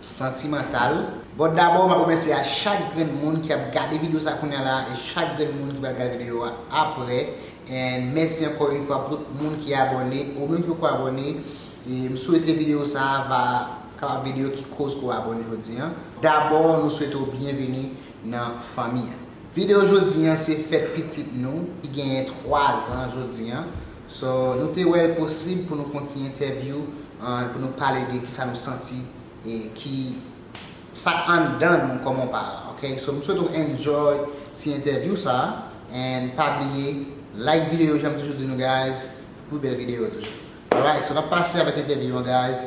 Santimantal. Bon dabò map remèsye a chak grenn moun ki ap gade video sa kounya la e chak grenn moun ki pral gad video a aprè and mèsi ankò yn fwa pou tout moun ki abòne ou menm ki poko abòne e m swete video sa va kapab video ki koz ke w abòne jodi an. Dabò nou swete w byenveni nan fanmi an. Video jodi an se fèt pitit nou ki genyen 3 zan jodi an. So, nou te wè l posib pou nou fè yon ti entèvyou an, pou nou pale de kisa nou santi e ki sa k anndan nou kòm yon paran ok. So, m swete w enjoy ti entèvyou sa and pa bliye like videyo jan m toujou di nou guys pou pi bèl videyo toujou. Alright, so n ap pase avèk entèvyou an guys.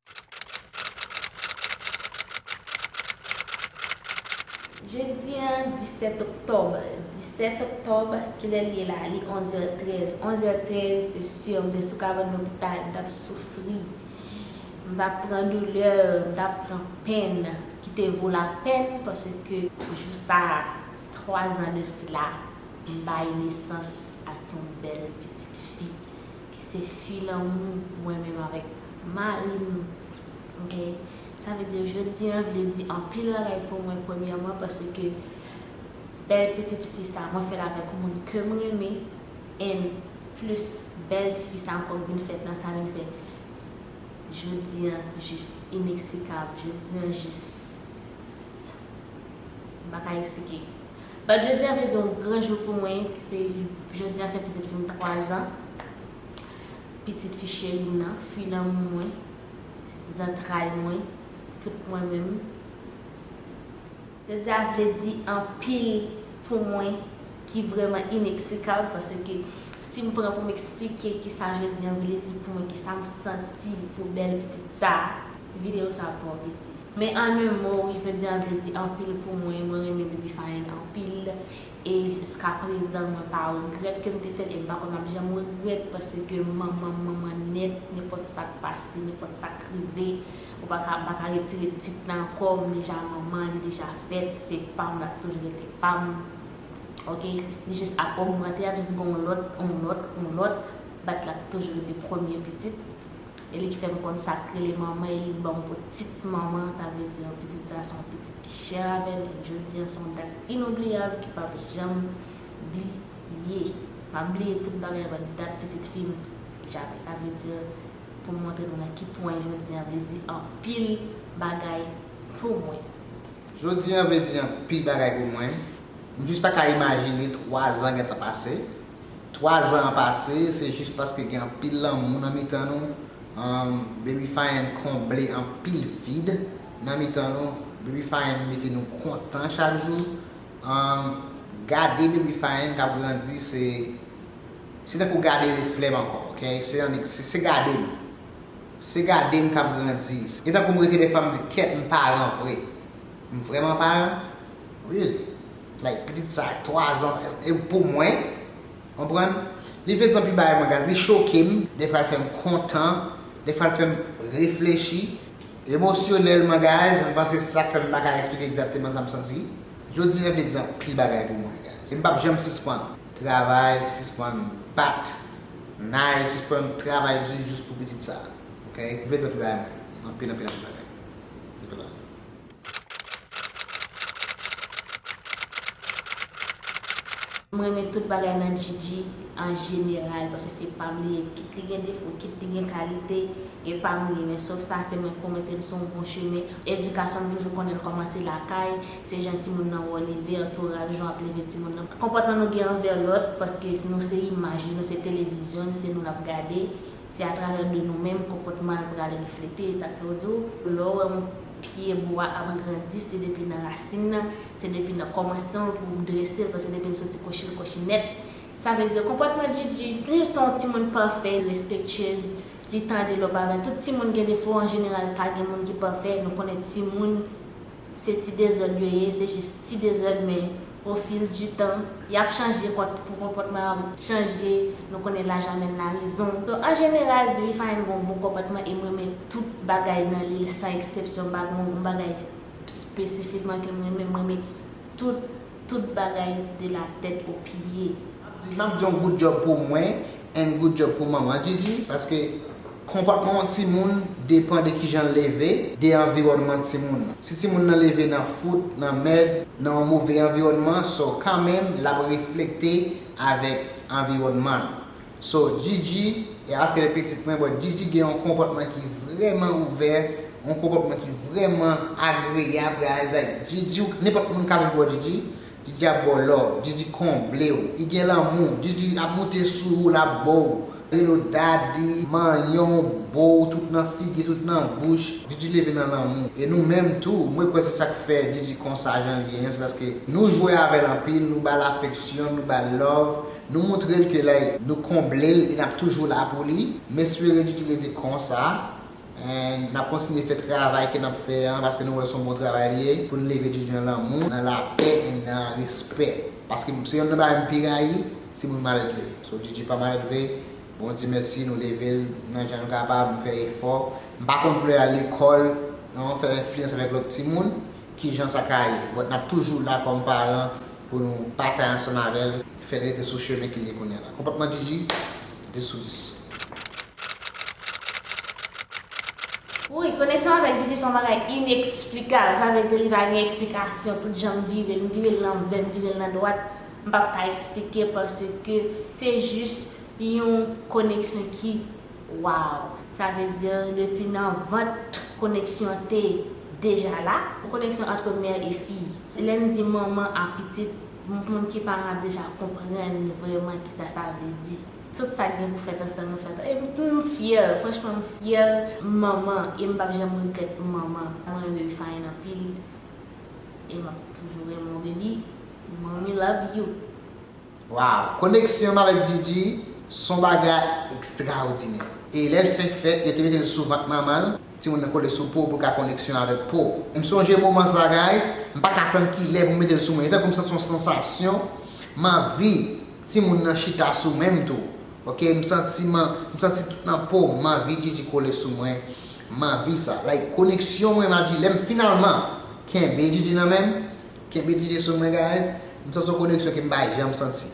Jedi an 17 oktòb 17 oktòb kilè li ye la li 11 è 13 11 è 13 se sur m te sou kabann lopital m tap soufri m tap pran doulè m tap pran pèn ki te vo la pèn paske jou sa 3 zan de sila m bay nesans ak yon bèl pitit fi Ki se fi lanmou mwen menm avèk mari m ok sa vle di jodi an vle di anpil bagay pou mwen premyèman paske bèl pitit fi sa mwen fèl avèk moun ke m renmen and plis bèl ti fi sa ankò k vin fèt nan sa vin fè jodi an jis ineksplikab jodi an jis m pa ka eksplike. Bat jodi a vle di yon gran jou pou mwen ki se jodi a fèt pitit fi m 3 zan. Pitit fi cheri m nan, fi lanmou mwen, zantray mwen, tout mwen menm. Jodi a vle di anpil pou mwen ki vrèman ineksplikab paske si m pran pou m eksplike ki sa jodi a vle di pou mwen, ki sa m santi pou bèl pitit sa a, videyo sa a ap twò piti. Men en un mot wi jodi a vle di anpil pou mwen, mwen renmen Baby Faïne anpil e jiska prezan mwen pa regrèt kem te fèl e mpa kwè map janm regrèt paske manmanm manman nèt nenpòt sak pase nenpòt sak rive ou paka mpaka retire tit lan ankò mdeja manman li deja fèt se pam lap toujou rete pam ok li jis ap ogmante ap jis gen yon lòt yon lòt yon lòt but lap toujou rete premye pitit. E li ki fè m konn sa k rele manman e li k ban m ptit manman, sa vle di yon pitit sa se yon pitit ki chè avè m e jodi an se yon dat inoubliyab ki p ap janm bliye. M ap bliye tout bagay avè dat pitit fi m Jade. Sa vle di, pou m montre nou nan ki pwen jodi an vle di anpil bagay pou mwen. Jodi an vle di anpil bagay pou mwen. M jis pa ka imajine twazan gentan pase, 3 zan an pase se jis paske gen anpil lanmou nan mitan nou humm Baby Fayenne konble anpil vid nan mitan nou Baby Fayenne mete nou kontan chak jou humm gade Baby Fayenne kap grandi se se tankou gade reflèm ankò ok se annik se gadem se gadem kap grandi e tankoum rete dèfwa mdi kèt m paran vre m vrèman paran really. Like pitit sa 3 zan e pou mwen konprann li vle di anpil bagay mwen gad li chokem defwa li fèm kontan defwa li fèm reflechi emosyonèlman guys mwen panse se sak fèm paka eksplike egzakteman sam santi jodi an vle di anpil bagay pou mwen guys e mpap janm sispann travay sispann bat nay sispann travay di jis pou pitit sa ok li vle di anpil bagay mwen anpil anpil anpil bagay anpil bagay. M renmen tout bagay nan Djidji an jeneral paske se pam li ye kit li gen defo kit li gen kalite e pam li men sof sa se mwen pwomete l son bon chemen edikasyon m toujou konnen l kòmanse lakay se jan timoun nan wè w leve antoraj jan w ap leve timoun nan konpòtman nou gen anvè lòt paske nou se imaj li nou se televizyon li se nou l ap gade se atravè de nou menm konpòtman l pral reflete e sa k fè w di w lè w wè yon Pye bwa ap grandi se depi nan rasin nan, se depi nan kòmansman l pou ou drese l paske depi l soti kòchi l kòchi nèt. Sa vle di konpòtman Djidji, li se yon timoun pafè, respektyez, li tande lòp avè l. Tout timoun gen defo an jeneral, pa gen moun ki pafè, nou konnen timoun se ti dezòd yo ye, se jis ti dezòd men. O fil di tan, y ap chanje kont pou konpòtman an chanje, nou konnen laj amèn larizon. So an jeneral depi Fahim gen yon bon konpòtman e m renmen tout bagay nan li san eksepsyon m pa gen yon bagay spesifikman ke m renmen, m renmen tout tout bagay de la tèt o pye. Map di map di yon good job pou mwen and good job pou manman Djidji paske. Konpòtman yon timoun depan de kijan l leve, de anviwònman timoun nan. Si timoun nan leve nan fout, nan mèd, nan yon move anviwònman, so kanmenm l ap reflekte avèk anviwònman l. So Djidji, e aske li pitit mwen, bon Djidji gen yon konpòtman ki vrèman ouvè, yon konpòtman ki vrèman agreyab, reyalizay. Djidji, nenpòt moun ka vin bò Djidji, Didi ap baw love, Didi konblew, li gen lanmou, Didi ap moute sou ou lap bow Hello Daddy, manyenw, bow tout nan figi tout nan bouch, Didi leve nan lanmou e nou menm tou, mwen kwè se sak fè Didi konsa janl ye an se paske nou jwe avèl anpil, nou bal afeksyon, nou bal love, nou moutrel ke like nou konblel e nap toujou la pou li, m espere Didi rete konsa And nap kontinye fè travay ke nap fè an paske nou wè son bon travay li ye poun leve djidji nan lanmou, nan lapè and nan respè paske se yonn nan bagay m pi rayi se moun maledve so djidji pa maledve bon Dye mèsi nou leve l nan jan nou kapab nou fè efò m pa konn pou lè al lekòl nan fè enfliyans avèk lòt timoun kijan sa ka ye but nap toujou la kòm paran pou nou batay ansanm avèl fèl rete sou chemen ke li ye kounya la konpòtman djidji 10 sou 10. Wouyy koneksyon avèk Didi son bagay ineksplikab sa vle di li pa gen eksplikasyon tout janm vire l m vire l lanvè m vire l nan dwat m pap ka eksplike paske se jis yon koneksyon ki waww sa vle di depi nan vant koneksyon te deja la yon koneksyon antre mè e fi lè m di manman a pitit moun ki paran deja konprann vrèman kisa sa vle di. Tout sak gen pou fèt an sèlman fèt an em m fyè franchman m fyè manman em pap janm regrèt manman mwen renmen baby fine anpil e map toujou renmen w baby mommy love you. Waw koneksyonm avèk Djidji son bagay ekstraodinè e lèl fenk fèt yo te metel sou vant manmanl timoun nan kole sou pow pou ka koneksyon avèk pow m sonje moman sa guys m paka tann kilè pou metel sou mwen etankou m santi yon sansasyon m anvi Timoun nan chita sou menm tou ok m santi m santi tout nan pom m anvi djidji kole sou mwen m anvi sa like koneksyon mwen ma dji lèm finalman kenbe djidji nan menm kenbe djidji sou mwen guys m santi yon koneksyon ke m pa janm santi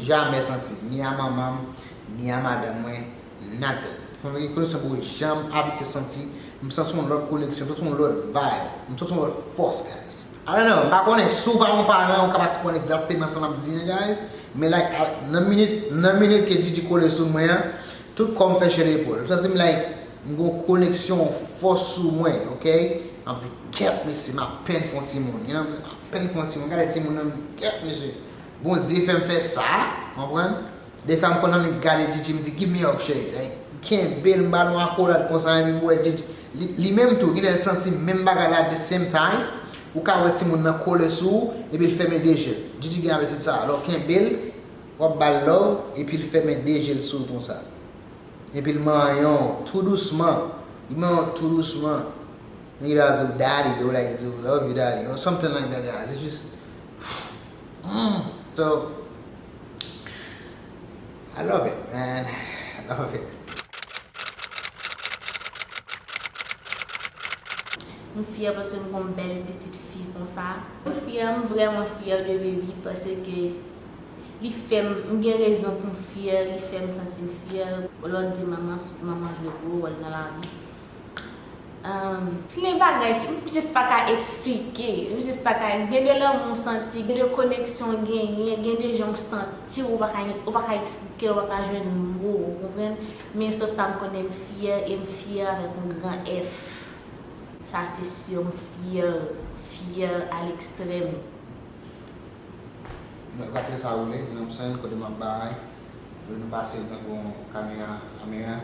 jamè santi ni a manman m ni a madanm mwen. Nathan. Konn gen koneksyon bro janm abitye santi, m santi yon lòt koneksyon, m santi yon lòt vibe, m santi yon lòt fòs guys. I don't know, m pa konnen, si w pa yon paran ou ka pa konprann egzakteman sa m ap di an guys, men like nan minit nan minit ke Didi kole sou mwen an, tout kò m fè chè de epòl, m santi m like m gen yon koneksyon, yon fòs sou mwen ok, m ap di kèt mesye m apèn fè yon timoun, you know, m apèn fè yon timoun, m gade timoun nan m di kèt mesye, Bondye fè m fè sa, konprann. Defwa m konn annik gade Djidji m di give me hug cheri like m kenbe l m ba nou akolad konsa epi m wè Djidji li menm tou ginlè l santi menm bagay la at the same time ou ka wè timoun nan kole sou ou epi l fèmen 2 je l Djidji gen abitid sa a lè w kenbe l wap ba l love epi l fèmen 2 je l sou w konsa epi l manyen w tou dousman li manyen w tou dousman epi li al di w daddy yo like di w love you daddy or something like that guys it's just humm so. I love it man I love it. M fyè paske m gon bèl pitit fi konsa. M fyè m vrèman fyè de baby paske li fèm m gen rezon poum fyè li fèm santim fyè. Lò di manman manman jwe gwo wòl nan lavi Humm gen bagay ki m just pa ka esplike, m just pa ka, gen de lanmou w santi, gen de koneksyon w genyen, gen de jan w santi w, ou pa ka esplike l, ou pa ka jwenn mo, ou konprann, men sof sa m konnen m fyè e m fyè avèk yon gran F, sa se sur, m fyè, fyè a l'extrême. Mwen pa t lèsa woule, nan psany kote m ap bay, lè nou pase nan bon kamera, camera.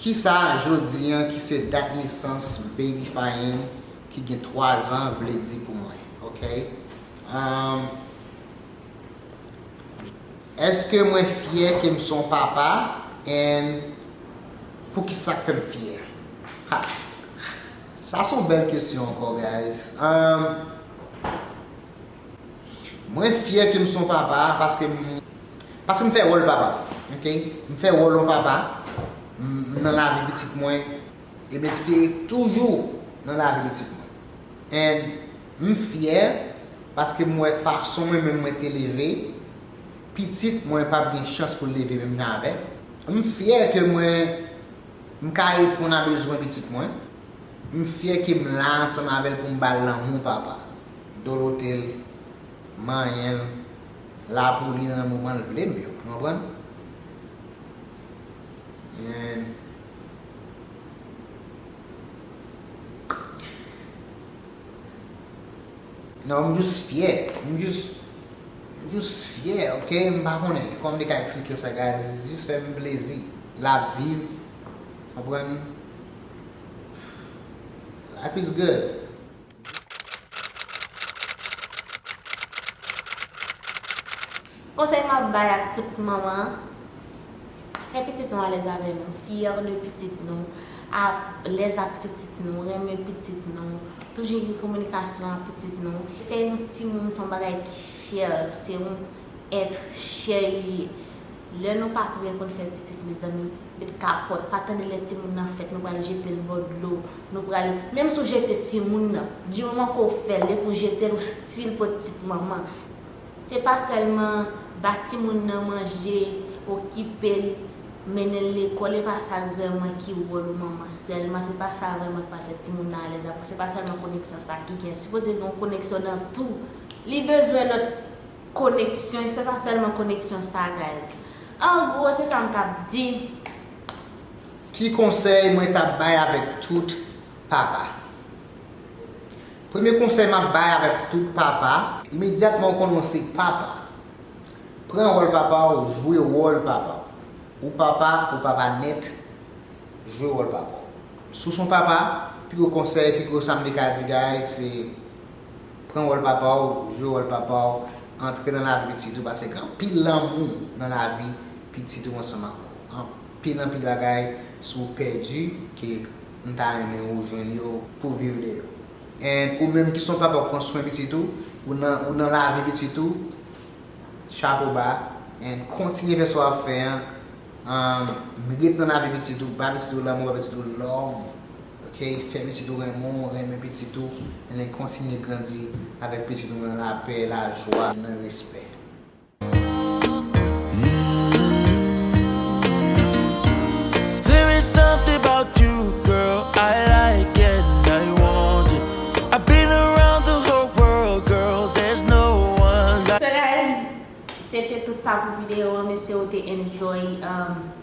Kisa jodi an ki se dat nesans Baby Fayne ki gen 3 zan vle di pou mwen ok? Umm Eske mwen fyè ke m son papa and poukisa k fè m fyè? Ha! Sa son bèl kesyon ankò guys. Umm Mwen fyè ke m son papa paske m paske m fè wòl papa ok m fè wòl yon papa m nan lavi pitit mwen e m espere toujou nan lavi pitit mwen and m fyè paske m wè fason mwen menm mwen te leve pitit mwen pap gen chans pou l leve menm jan avèm m fyè ke mwen m ka reponn a bezwen pitit mwen. M fyè ke m la ansanm avè l pou m ba l lanmou papa. Dolote l, manyen l, la pou li nan moman l vle m yo. Nou konprann? Gen. Non, m jis fyè. M jis M jis fyè, ok? M pa konnen kòman m te ka eksplike sa guys. Jis fè m plezi. L ap viv, konprann? Life is good. Konsèy map bay ak tout manman, fè pitit nou alèz avè nou, fière de pitit nou, alèz ak pitit nou, renmen pitit nou, toujou gen kominikasyon ak pitit nou, fè yon timoun son bagay ki chè, se yon. Être chè li ye. Lè nou pa prè poun fè pitit mezanmi met kapòt pa tande lè timoun nan fèt nou pral jetel bò dlo nou pral menm si w jete timoun nan di moman ke w fèl depi w jetel ou stil pot tit manman se pa sèlman ba timoun nan manje okipel mennenl lekòl epa sa vrèman ki wòl ou manman sèlman se pa sa vrèman ki pral fè timoun nan alèz aprè se pa sèlman koneksyon sa ki gen sipoze gen yon koneksyon nan tou li bezwen lòt. Koneksyon, se pa sèlman koneksyon sagaz. An gwo, se sa m tap di. Ki konsèy mwen tap bay avèk tout papa? Premye konsèy m ap bay avèk tout papa. Imedyatman ou konnen ou se papa, pran wòl papa w, jwe wòl papa w. Ou papa, ou papa nèt, jwe wòl papa w. Si w son papa, pi gwo konsèy, pi gwo sa m te ka di guys se Pran wòl papa w, jwe wòl papa w, antre nan lavi pitit ou pase gen anpil lanmou nan lavi pitit ou ansanm avè w. Anpil anpil bagay si w pèdi ke m ta renmen ou jwenn yo pou w viv de yo. And ou menm ki son papa ou pran swen pitit ou, ou nan lavi pitit ou, chapo ba and kontinye fè sa w ap fè an, ret nan lavi pitit ou, ba pitit ou lanmou, ba pitit ou love. Ok fè pitit ou renmen w renmen pitit ou en kontinye grandi avèk pitit ou nan lapè lajwa nan respè. Sou rèse se te tout sa pou video an m espere w te enjoy.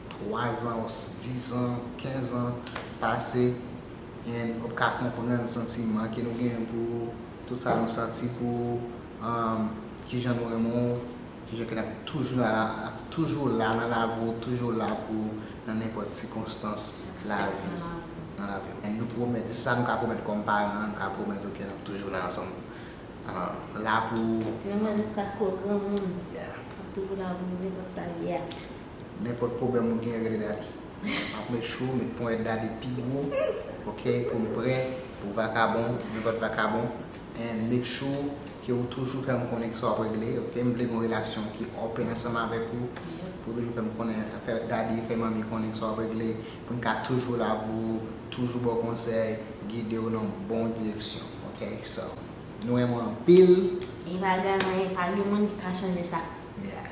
3 ans, 10 ans, 15 ans pase and ou pka konprann santiman ke nou genyen pou ou, tout sa nou santi pou ou, um kijan nou renmen ou, kijan ke nap toujou la ap toujou la nan lavi ou, toujou la pou ou nan nenpòt sikonstans lavi nan lavi ou and nou pwomèt se sa nou ka pwomèt kòm paran nou ka pwomèt ou ke nap toujou la ansanm um la pou ou. Di yon mwen jiskaske ou granmoun yeah nap toujou la pou ou nenpòt sa ye a. Nenpot pwoblem ou gen rele Dady. Map met chou, met ponyet Dady pi gwo ok poum prè pou vakabon, nenpot vakabon and make sure ke ou toujou fèm konnen kisa wap regle ok m vle gon relasyon ki open ansanm avek ou pou toujou fèm konnen fè Dady fè manmi konnen kisa wap regle poun ka toujou la pou ou toujou baw konsèy gidew nan bon direksyon ok so nou renmen w anpil. Epa gen anyen pa gen moun ki ka chanje sa. Yeah.